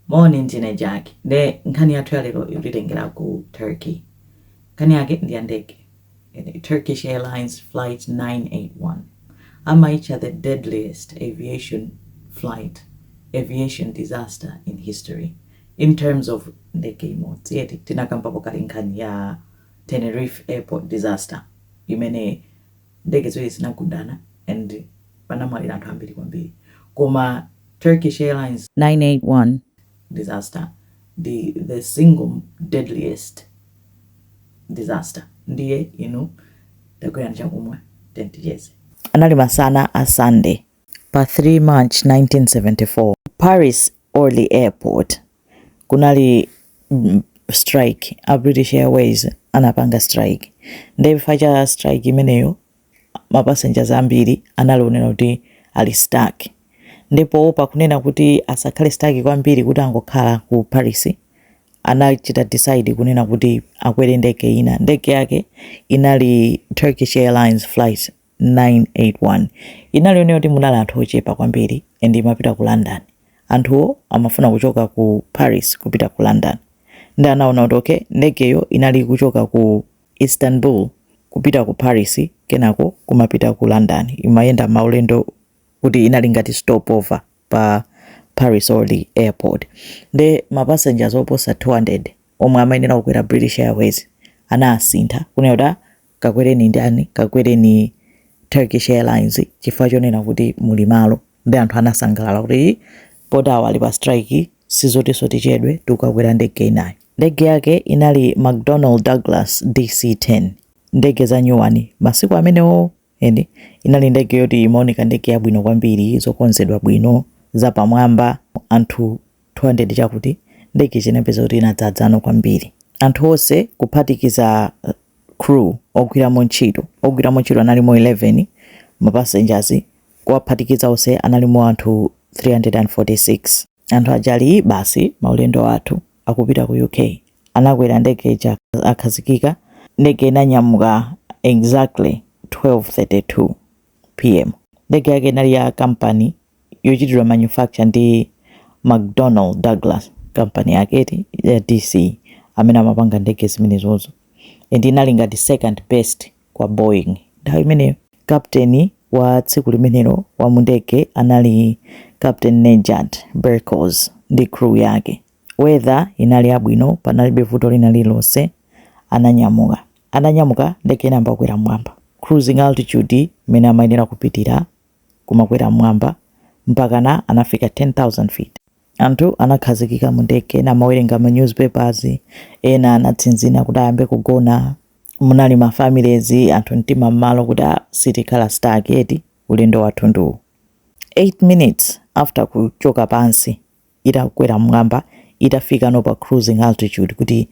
Moni, ndine Jack. Nde nkhani yathu ya lero ikutitengera ku Turkey. Nkhani yake ndi ya ndege. Turkish Airlines Flight 981. Amaitcha the deadliest aviation flight, aviation disaster in history, in terms of ndege imodzi, eti? Tinakambapo kale nkhani ya Tenerife Airport disaster imene. ndege ziwiri zinagundana and panamwalira anthu ambiri kwambiri koma Turkish airlines 981 disaster ndi the single deadliest disaster ndiye inu tagwirani chakumwa then ticheze. Anali masana a Sunday pa 3 March 1974 Paris Orly airport kunali strike a British Airways anapanga strike nde chifukwa cha strike imeneyo ma passengers ambiri anali oonena kuti ali stuck ndipo pakunena kuti asakhale stuck kwambiri kuti angokhala ku Paris anachita decide kunena kuti akwere ndege ina ndege yake inali Turkish Airlines flight 981 inali yonena kuti munali anthu ochepa kwambiri and imapita ku london anthuwo amafuna kuchoka ku paris kupita ku london nde anaona kuti okay ndegeyo inali kuchoka ku istanbul kupita ku paris kenako kumapita ku london imayenda maulendo kuti inali ngati stopover pa Paris Orly Airport nde ma passengers oposa 200 omwe amayenera kukwera British Airways anasintha kunena kuti ah, kakwereni ndani kakwereni Turkish Airlines chifukwa chonena kuti muli malo nde anthu anasangalala kuti poti awa ali pa strike sizotinso tichedwe tikukakwera ndege inayo ndege yake inali McDonnell Douglas DC-10 ndege za nyuwani masiku amenewo And inali ndege yoti imaoneka ndege yabwino kwambiri, zokonzedwa bwino, zapamwamba, anthu 200 chakuti, nde zinapezeka kuti inadzadzano kwambiri. Anthu onse kuphatikiza uh, crew ogwiramo ntchito, ogwiramo ntchito analimo 11, mapassengers kuwaphatikiza onse analimo anthu 346. Anthu aja ali basi maulendo athu akupita ku UK. Anakwera ndege ija akhazikika. Ndege inanyamuka exactly 12:32 pm. Ndege yake inali ya kampani yochitidwa manufacture ndi McDonnell Douglas, kampani yake eti ya DC amene amapanga ndege zimenezozo, and inali ngati second best kwa Boeing nthawi imeneyo. Captain wa tsiku limenelo wa mu ndege anali Captain Nejat Berkoz ndi crew yake. Weather inali yabwino panalibe vuto lina lililonse. Ananyamuka. Atanyamuka ndege inayamba kukwera m'mwamba. Cruising altitude imene amayenera kupitira kumakwera m'mwamba mpakana anafika 10,000 feet. Anthu anakhazikika mu ndege, ena amawerenga ma news papers, ena anatsinzina kuti ayambe kugona, munali ma families anthu mtima mmalo kuti ah sitikhala stuck eti ulendo wathu ndi uwu. 8 minutes after kuchoka pansi itakwera mmwamba itafikano pa cruising altitude kuti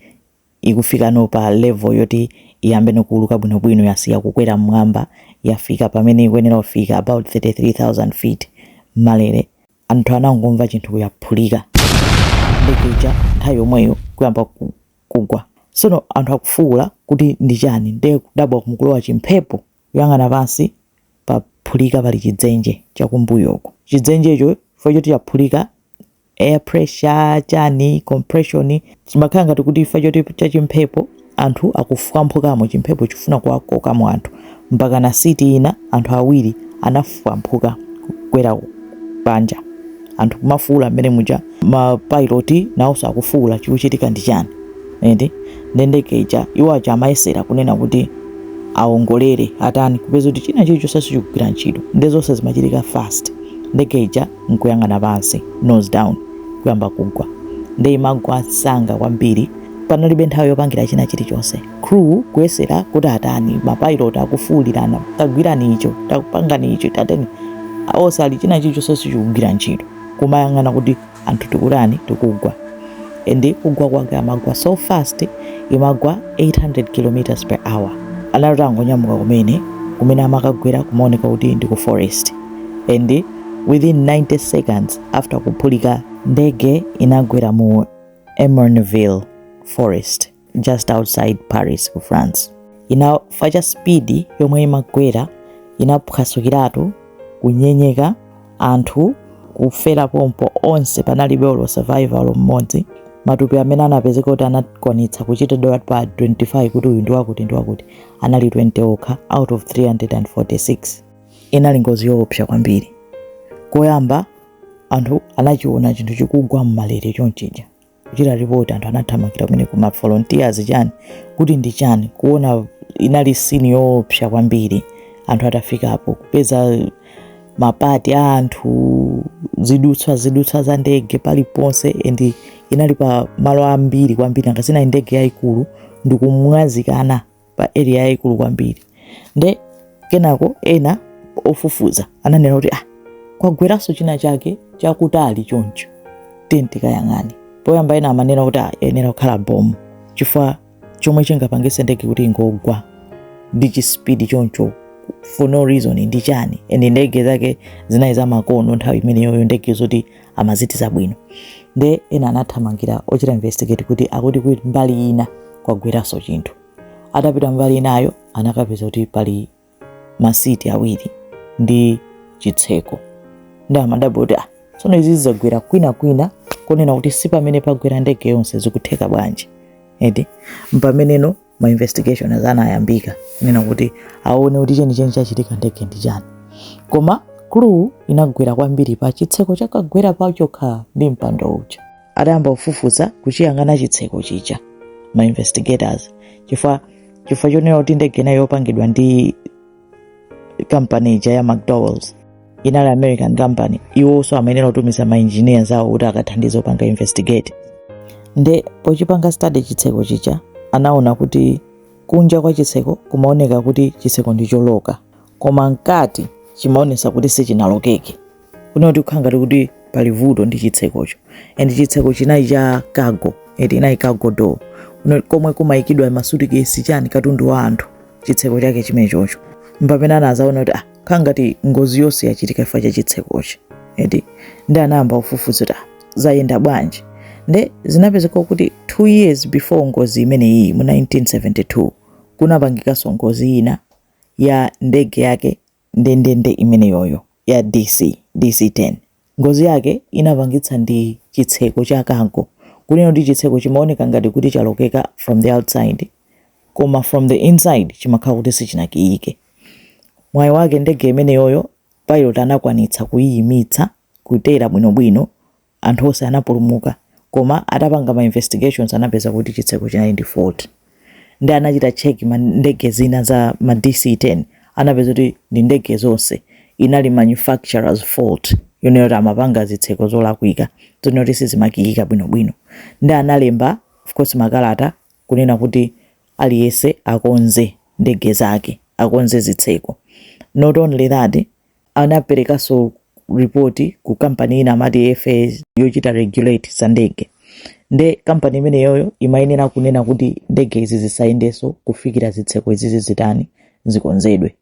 ikufikano pa level yoti iyambeno kuuluka bwinobwino yasiya kukwera mmwamba yafika pamene ikuyenera kufika about 33,000 feet mmalere anthu anangomva chinthu kuti yaphulika ndege ija nthawi yomweyo kuyamba ku- kugwa sono anthu akufuwula kuti ndi chani nde kudabwa kuti mukulowa chimphepo kuyang'ana pansi paphulika pali chidzenje chakumbuyoko chidzenjecho chifukwa choti chaphulika air pressure chani compression chimakhala ngati kuti chifukwa choti chachimphepo Anthu akufukamphukamo chimphepo chifuna kuwakokamo anthu mpakana seat ina anthu awiri anafukamphuka kugwera panja anthu kumafuula mmene muja ma pilot naonso akufuula chikuchitika ndi chani eti nde ndege ija iwo aja amayesera kunena kuti awongolere atani kupeza kuti china chilichonse sichikugwira ntchito nde zonse zimachitika fast ndege ija nkuyang'ana pansi nose down kuyamba kugwa nde imagwa msanga kwambiri panalibe nthawi yopangira china chilichonse crew kuyesera kuti atani mapilot akufuulirana tagwirani icho tapangani icho tateni onse ali china chilichonse sichikugwira ntchito kumayang'ana kuti anthu tikutani tikugwa and kugwa kwake amagwa so fast imagwa 800 km per hour anali angonyamuka kumene kumene amakagwera kumaoneka kuti ndi ku forest and within 90 seconds after kuphulika ndege inagwera mu Ermenonville forest just outside paris ku france chifukwa cha speed yomwe imagwera inaphwasukiratu kunyenyeka anthu kufera pompo onse panalibe olo survivor mmodzi matupi amene anapezeka kuti anakwanitsa kuchitidwa identify kuti uyu ndiwakuti ndiwakuti anali 20 okha out of 346 inali ngozi yoopsa kwambiri koyamba anthu anachiona chinthu chikugwa mmalere chonchija kuchita ripoti anthu anathamangira kumene kuti mavolunteers chani kuti ndi chani kuona inali sini yoopsa kwambiri anthu atafikapo kupeza mapati a anthu zidutswa zidutswa za ndege paliponse and inali pa malo ambiri kwambiri nanga si ndi ndege yayikulu ndikumwazikana pa area yaikulu kwambiri nde kenako ena ofufuza ananena kuti ah, kwagweranso china chake chakutali choncho tiyeni tikayang'ane poyamba ena amanena kuti ah, iyenera kukhala bomu chifukwa chomwe chingapangitse ndege kuti ingogwa ndi chispidi choncho for no reason ndi chani and ndege zake zinali za makono nthawi imeneyoyo ndege zoti amazitidza bwino nde ena anathamangira ochita investigate kuti akuti kuti mbali ina kwagweranso chinthu atapita mbali inayo anakapeza kuti pali masiti awiri ndi chitseko ndi amadabwa kuti ah, tsono izi zagwera kwina kwina konena kuti si pamene pagwera ndege yonse zikutheka bwanji edi mpameneno ma investigations anayambika kunena kuti aone kuti chenicheni chachitika ndege ndi chani koma clue inagwera kwambiri pa chitseko chakagwera pachokha ndi mpando uja adayamba kufufuza kuchiyang'ana chitseko chija ma investigators chifukwa chifukwa chonena kuti ndege inayo yopangidwa ndi kampani ya mcdowells inali american company iwonso amayenera kutumiza ma engineers awo kuti akathandize kupanga investigate nde pochipanga study chitseko chija anaona kuti kunja kwa chitseko kumaoneka kuti chitseko ndi choloka koma mkati chimaonesa kuti sichinalokeke kunena kuti kukhala ngati kuti pali vuto ndi chitsekocho and chitseko chinali cha cargo eti inali cargo door komwe kumayikidwa masutikesi chani katundu wa anthu chitseko chake chimechocho mpamene anazaona kuti ah khala ngati ngozi yonse yachitika chifukwa cha chitsekochi eti ndi anayamba kufufuza kuti ah zayenda bwanji nde zinapezeka kuti 2 years before ngozi imene iyi mu 1972 kunapangikanso ngozi ina ya ndege yake ndendende imeneyoyo ya DC, DC-10. Ngozi yake inapangitsa ndi chitseko cha cargo, kunena kuti chitseko chimaoneka ngati kuti chalokeka from the outside koma from the inside chimakhala kuti sichinakiike. Mwayi wake ndege imeneyoyo pilot anakwanitsa kuiyimitsa kutera bwinobwino Anthu onse anapulumuka koma atapanga ma investigations anapeza kuti chitseko chinali ndi fault ndi anachita check ndege zina za ma DC-10 anapeza kuti ndi ndege zonse inali manufacturers fault yonena kuti amapanga zitseko zolakwika zonena kuti sizimakiyika bwinobwino ndi analemba of course makalata kunena kuti aliyense akonze ndege zake akonze zitseko not only that anaperekanso report ku kampani ina amati FAA yochita regulate za ndege nde kampani imeneyoyo imayenera kunena kuti ndege izi zisayendenso kufikira zitseko izizi zitani zikonzedwe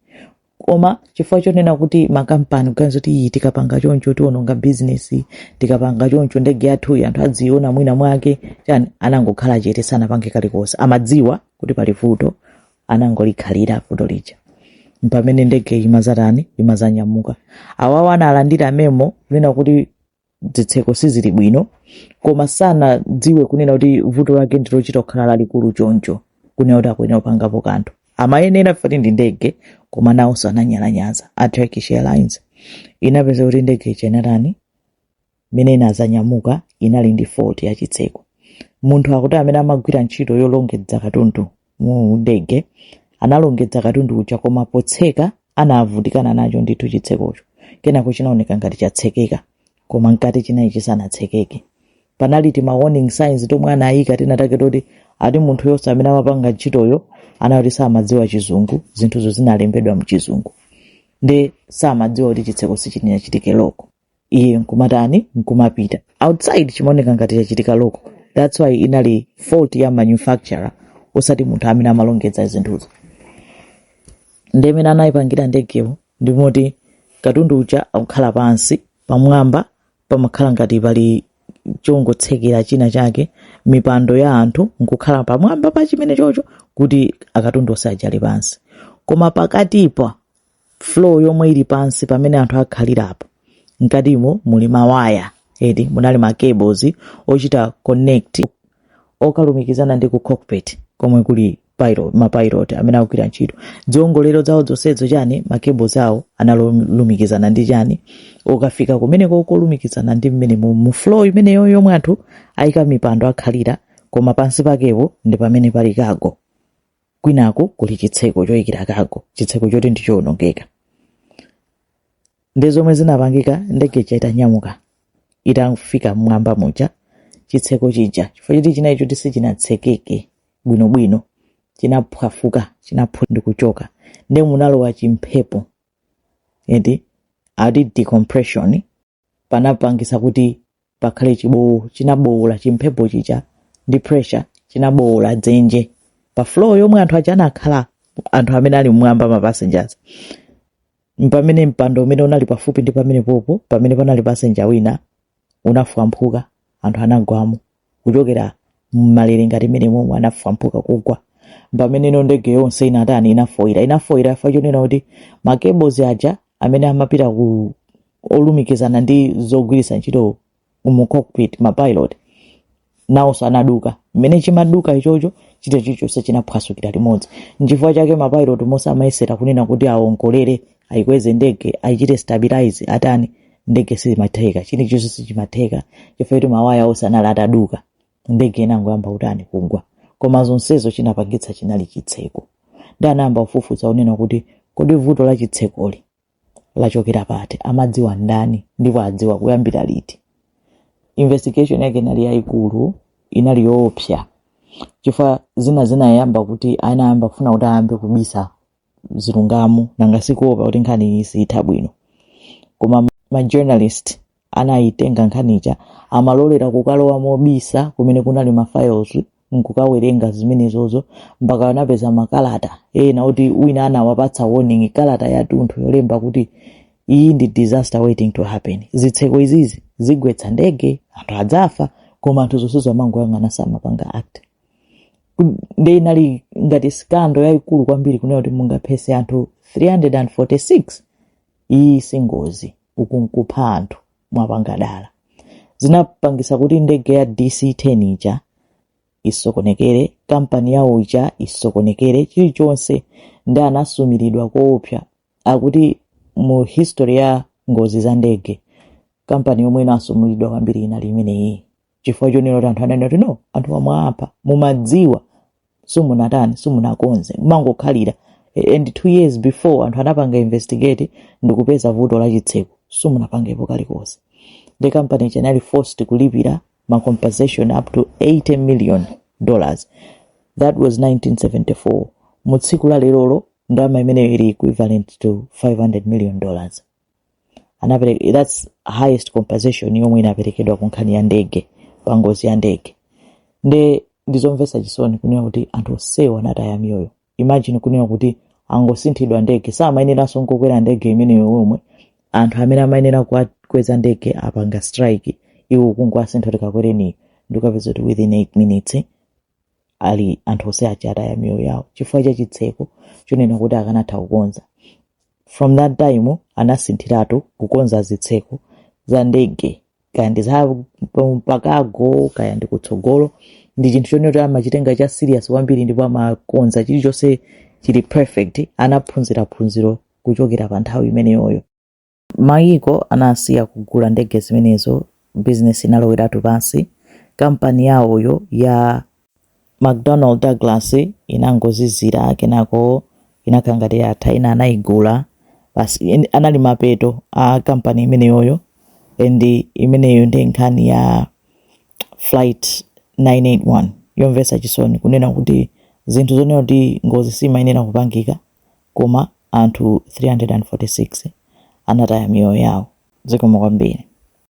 koma chifukwa chonena kuti makampani kuganiza kuti iyi tikapanga choncho tiononga bizinesi tikapanga choncho ndege yathuyi anthu adziiona mwina mwake chani anangokhala chete sanapange kalikonse amadziwa kuti pali vuto anangolikhalira vuto lija mpamene ndege imazatani imazanyamuka awawa analandira memo kunena kuti zitseko sizili bwino koma sanadziwe kunena kuti vuto lake ndilochita kukhala lalikulu choncho kunena kuti akuyenera kupangapo kanthu amayenera foti ndi ndege koma nawonso ananyalanyaza a turkish airlines kunapezeka kuti ndege ija inatani mmene inadzanyamuka inali ndi fault ya chitseko munthu akuti amene amagwira ntchito yolongedza katundu mu ndege analongedza katundu uja koma potseka anavutikana nacho ndithu chitsekocho kenako chinaoneka ngati chatsekeka koma mkati chinali chisanatsekeke panali tima warning signs tomwe anayika tinatake toti ati munthuyonso amene amapanga ntchitoyo anati samadziwa chizungu zinthuzo zinalembedwa mchizungu nde samadziwa kuti chitseko sichinachitike loko iye nkumatani nkumapita outside chimaoneka ngati chachitika loko that's why inali fault ya manufacturer osati munthu amene amalongedza zinthuzo nde mmene anayipangira ndegeyo ndimoti katundu uja akukhala pansi pamwamba pamakhala ngati pali chongotsekera china chake mipando ya anthu nkukhala pamwamba pa chimene chocho kuti akatundu onse aja ali pansi koma pakatipa floor yomwe ili pansi pamene anthu akhalirapo mkatimo muli mawaya eti munali ma cables ochita connect okalumikizana ndi ku cockpit komwe kuli pilot ma pilot amene akugwira ntchito ziongolero zawo zonsezo chani ma cables awo analumikizana ndi chani okafika kumeneko kolumikizana ndi mmene mu, mu floor imeneyo yomwe anthu ayika mipando akhalira koma pansi pakepo ndi pamene pali cargo kwinaku kuli chitseko choyikira cargo chitseko choti ndi chowonongeka ndi zomwe zinapangika ndege ija itanyamuka itafika mmwamba muja chitseko chija chifukwa choti chinali choti sichinatsekeke bwinobwino chinaphwafuka chinaphwa ndi kuchoka nde munalowa chimphepo eti ati decompression panapangisa kuti pakhale chibowo chinabowola chimphepo chija ndi pressure chinabowola dzenje pa floor yomwe anthu aja anakhala anthu amene ali mmwamba ma passengers mpamene mpando umene unali pafupi ndi pamene popo pamene panali passenger wina unafwamphuka anthu anagwamo kuchokera mmalere ngati mmene momwe anafwamphuka kugwa pamene ino ndege yonse inatani inafoira inafoira chifukwa chonena kuti ma cables aja amene amapita ku olumikizana ndi zogwiritsa ntchito mu cockpit mapilot nawonso anaduka mmene chimaduka ichocho chinthucho chonse chinaphwasukira limodzi nchifukwa chake mapilot monse amayesera kunena kuti awongolere ayikweze ndege ayichite stabilize atani ndege sizimatheka chilichonse sichimatheka chifukwa kuti mawaya onse anali ataduka ndege inangoyamba kutani kugwa koma zonsezo chinapangitsa chinali chitseko nde anayamba kufufuza kunena kuti kodi vuto la chitsekoli lachokera pati amadziwa ndani ndipo adziwa kuyambira liti investigation yake inali yayikulu inali yoopsa chifukwa zina zinayamba kuti anayamba kufuna kuti ayambe kubisa zilungamo nanga sikuopa kuti nkhani iyi siyitha bwino koma ma journalist anayitenga nkhani ija amalolera kukalowa mobisa kumene kunali ma files nkukawerenga zimenezozo mpaka anapeza makalata ena oti wina anawapatsa warning kalata yatunthu yolemba kuti iyi ndi disaster waiting to happen zitseko izizi zigwetsa ndege anthu adzafa koma anthu zonsezo amangoyang'ana samapanga act nde inali ngati scandal yayikulu kwambiri kunena kuti mungaphese anthu 346 iyi singozi uku nkupha anthu mwapanga dala zinapangisa kuti ndege ya dc10 ija isokonekere kampani yawo ija isokonekere chilichonse ndi anasumiridwa koopsa akuti mu history ya ngozi za ndege kampani yomwe inasumulidwa kwambiri inali imeneyi chifukwa chonena kuti anthu ananena kuti no anthu amwewa mwapha mumadziwa simunatani simunakonze mumangokhalira and two years before anthu anapanga investigate ndikupeza vuto la chitseko simunapangepo kalikonse the company inali forced kulipira ma compensation up to 80 million dollars that was 1974 mu tsiku la lerolo ndalama imeneyo ili equivalent to 500 million dollars anapere- that's highest compensation yomwe inaperekedwa ku nkhani ya ndege pa ngozi ya ndege nde ndizomvetsa chisoni kunena kuti anthu onsewo anataya miyoyo imagine kunena kuti angosinthidwa ndege samayeneranso kukwera ndege imeneyo yomwe anthu amene amayenera kuwakweza ndege apanga strike iwo kungowasintha kuti kakwereniyo ndikukapeza kuti within 8 minutes ali anthu onse aja ataya miyoyo yawo chifukwa cha chitseko chonena kuti akanatha kukonza from that time anasinthiratu kukonza zitseko za ndege kaya ndi za pa cargo kaya ndi kutsogolo ndi chinthu chonena kuti amachitenga cha serious kwambiri ndipo amakonza chilichonse chili perfect anaphunzira phunziro kuchokera pa nthawi imeneyoyo Mayiko anasiya kugula ndege zimenezo, business inaloweratu pansi, kampani yawoyo ya McDonnell Douglas inangozizira, kenako inakhala ngati yatha, ina anaigula, basi anali mapeto a kampani imeneyoyo. And imeneyo ndi nkhani ya flight 981 yomvetsa chisoni kunena kuti zinthu zonena kuti ngozi simayenera kupangika Koma anthu 346 anataya miyoyo yawo. Zikomo kwambiri.